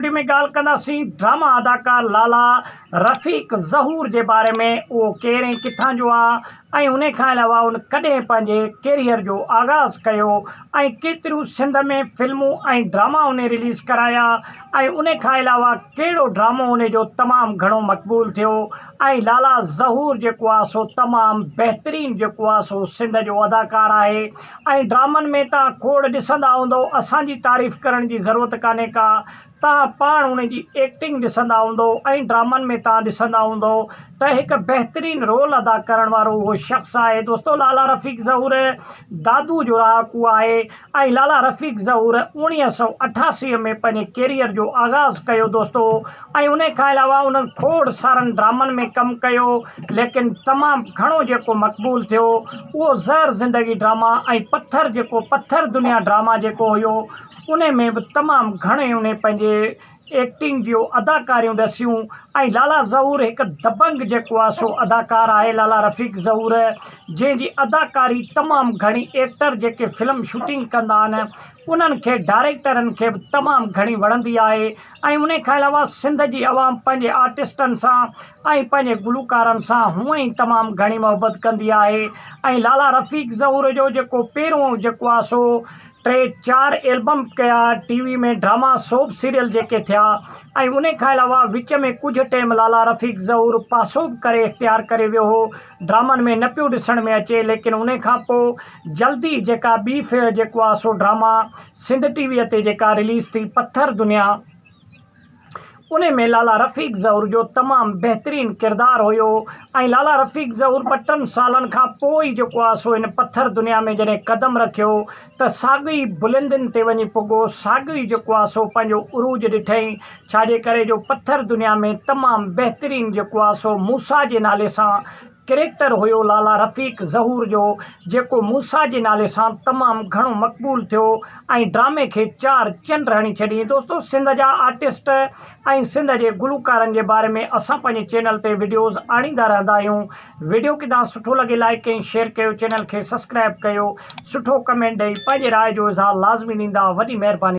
آخر ۾ ڳالهه ڪنداسين ڊراما اداڪار لالا رفيق ظهور جي باري ۾ اهو ڪير ۽ ڪٿان جو آ ۽ انهي کان علاوه ان ڪڏهن پنهنجي ڪيريئر جو آغاز ڪيو ۽ ڪيتريون سنڌ ۾ فلمون ۽ ڊراما انهي رليز ڪرايا ۽ انهي کان علاوه ڪهڙو ڊرامو انهي جو تمام گهڻو مقبول ٿيو ۽ لالا ظهور جيڪو آ سو تمام بهترين جيڪو آ سو سنڌ جو اداڪار آهي ۽ ڊرامن ۾ توهان کوڙ ڏسندا هوندؤ اسان جي تعريف ڪرڻ جي ضرورت ڪانهي ڪا توهان پاڻ ان جي ايڪٽنگ ڏسندا هوندؤ ۽ ڊرامن ۾ توهان ڏسندا هوندؤ ته هڪ بهترين رول ادا ڪرڻ وارو اهو شخص آهي دوستو لالا رفيق ظهور دادو جو رهاڪو آهي ۽ لالا رفيق ظهور اوڻيهه سؤ اٺاسي ۾ پنهنجي ڪيريئر جو آغاز ڪيو دوستو ۽ ان کان علاوه انهن کوڙ سارن ڊرامن ۾ ڪم ڪيو ليڪن تمام گهڻو جيڪو مقبول ٿيو اهو زهر زندگي ڊراما ۽ پٿر جيڪو پٿر دنيا ڊراما جيڪو هيو ان ۾ به تمام گهڻي انهي پنهنجي ايڪٽنگ جيو اداڪاريون ڏسيون ۽ لالا ظهور هڪ دبنگ جيڪو آهي سو اداڪار آهي لالا رفيق ظهور جنهن جي اداڪاري تمام گهڻي ايڪٽر جيڪي فلم شوٽنگ ڪندا آهن انهن کي ڊائريڪٽرن کي به تمام گهڻي وڻندي آهي ۽ انهي کان علاوه سنڌ جي عوام پنهنجي آرٽسٽن سان ۽ پنهنجي گلوڪارن سان هونئن ئي تمام گهڻي محبت ڪندي آهي ۽ لالا رفيق ظهور جو جيڪو پهريون جيڪو آهي سو ٽي چار البم ڪيا T V ۾ drama soap serial جيڪي ٿيا ۽ انهي کان علاوه وچ ۾ ڪجهه ٽيم لالا رفيق ظهور پاسو به ڪري اختيار ڪري ويو هو ڊرامن ۾ نه پيو ڏسڻ ۾ اچي ليڪن انهي کان پوء جلدي جيڪا ٻي جيڪو آهي سو ڊراما سنڌ ٽي وي تي جيڪا رليز ٿي پٿر دنيا ان ۾ لالا رفيق ظهور جو تمام بهترين ڪردار هيو ۽ لالا رفيق ظهور ٻه ٽن سالن کان پوء ئي جيڪو آ سو ان پٿر دنيا ۾ جڏهن قدم رکيو ته ساڳئي بلندين تي وڃي پڳو ساڳيو ئي جيڪو آ سو پنهنجو عروج ڏٺئين ڇاجي ڪري جو پٿر دنيا ۾ تمام بهترين جيڪو آ سو موسيٰ جي نالي سان ڪريڪٽر هيو لالا رفيق ظهور جو جيڪو موسيٰ جي نالي سان تمام گهڻو مقبول ٿيو ۽ ڊرامي کي چار چنڊ هڻي ڇڏيئين دوستو سنڌ جا آرٽسٽ ۽ سنڌ جي گلوڪارن جي باري ۾ اسان پنهنجي چينل تي وڊيوز آڻيندا رهندا آهيون وڊيو ڪدا سٺو لڳي لائيڪ ۽ شيئر ڪيو چينل کي سسڪرائب ڪيو سٺو ڪمينٽ ڏئي پنهنجي راء جو اظهار لازمي ڏيندا وڏي مهرباني.